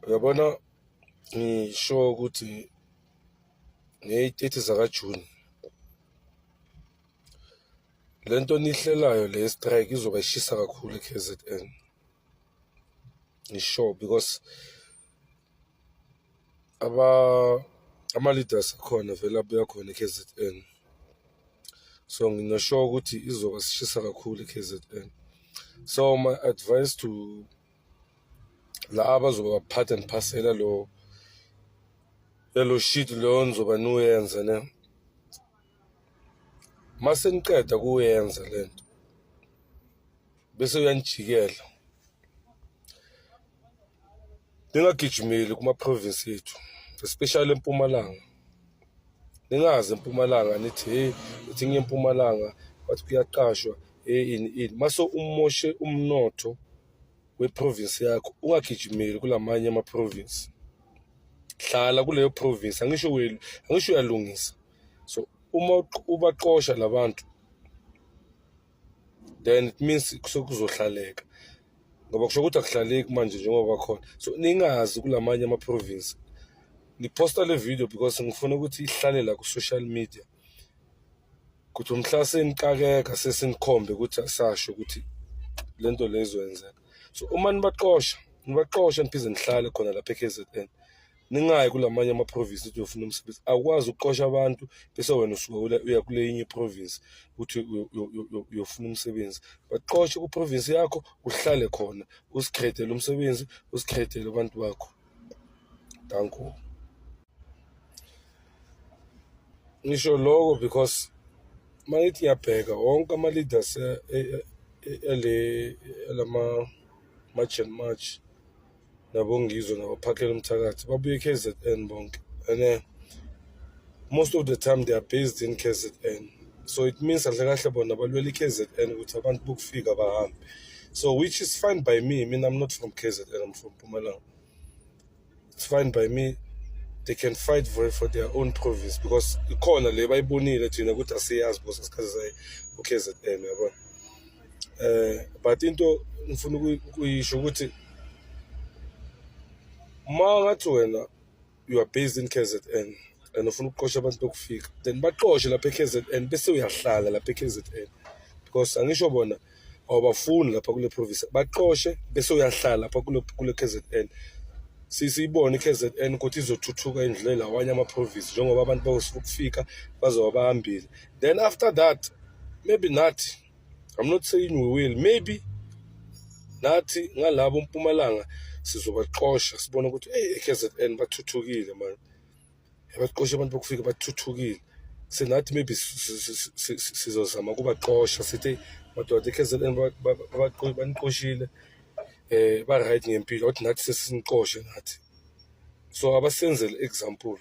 uyabona ngisho ukuthi ngeyi-30 zakajuni le nto nihlelayo le strike izoba ishisa kakhulu e-kzn ngisho because aba ama-leaders akhona vele abuya khona e-KZN so ngingasho ukuthi izoba sishisa kakhulu e-KZN so my advice to la abazoba baphatha and phasela lo lelo shit leyo nizoba niwenza ne mase niqeda kuyenza lento bese uyanijikela ningagijimeli kuma-province ethu especially empumalanga ningazi empumalanga nithi hey uthi ngiye empumalanga wathi kuyaqashwa hey ini ini mase umoshe umnotho weprovince yakho ungagijimeli kulamanye amaprovince hlala kuleyo province angisho welu angisho uyalungisa so uma ubaqosha labantu then it means sokuzohlaleka ngoba kusho ukuthi akuhlaleki manje njengoba khona so ningazi kulamanye ama province ngiposta le video because ngifuna ukuthi ihlale la ku social media ukuthi umhla senikakeka sesinikhombe ukuthi asasho ukuthi lento lezoyenzeka so uma nibaqosha nibaqosha niphinde nihlale khona lapha eKZN ningayi kulamanye amaprovince ukuthi uyofuna umsebenzi awukwazi ukuqosha abantu bese wena usuke uya kule yinye iprovince ukuthi uyofuna umsebenzi baqoshe kuprovince yakho uhlale khona usikhethele umsebenzi usikhethele abantu bakho danko ngisho loko because uma ngithi ngiyabheka wonke ama-leaders yale yalama-march and march nabongizwe nabaphakela umthakathi babuye e-kzn bonke and uh, most of the time they are based in kzn so it means kahle kahle bona balwela i-kzn ukuthi abantu bokufika bahambe so which is fine by me mina i'm not from kzn i'm from pumalanga it's fine by me they can fight for, for their own province because ikhona le bayibonile thina ukuthi asiyazi because asikhathi sayi u-kzn yabona eh but into ngifuna ukuyisho ukuthi uma ngathi wena you are based in KZN and ufuna ukuqosha abantu bokufika then baqoshe lapha eKZN bese uyahlala lapha eKZN because angisho bona awubafuni lapha kule province baqoshe bese uyahlala lapha kule kule KZN sisiyibone i-KZN ukuthi izothuthuka indlela awanye ama-province njengoba abantu bakufika bazoba bahambile then after that maybe nathi I'm not saying we will maybe nathi ngalabo mpumalanga sizobaxosha sibone ukuthi hey KZN bathuthukile man yabaqosha abantu bokufika bathuthukile senathi maybe sizozama kubaxosha sithi madoda KZN baniqoshile eh ba right ngempilo wathi nathi sesiniqoshe nathi so abasenzele example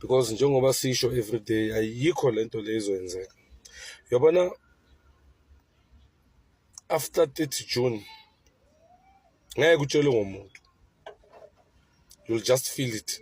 because njengoba sisho every day ayikho le nto le izoyenzeka yabona after 30 june ngeke utshelwe ngomuntu you'll just feel it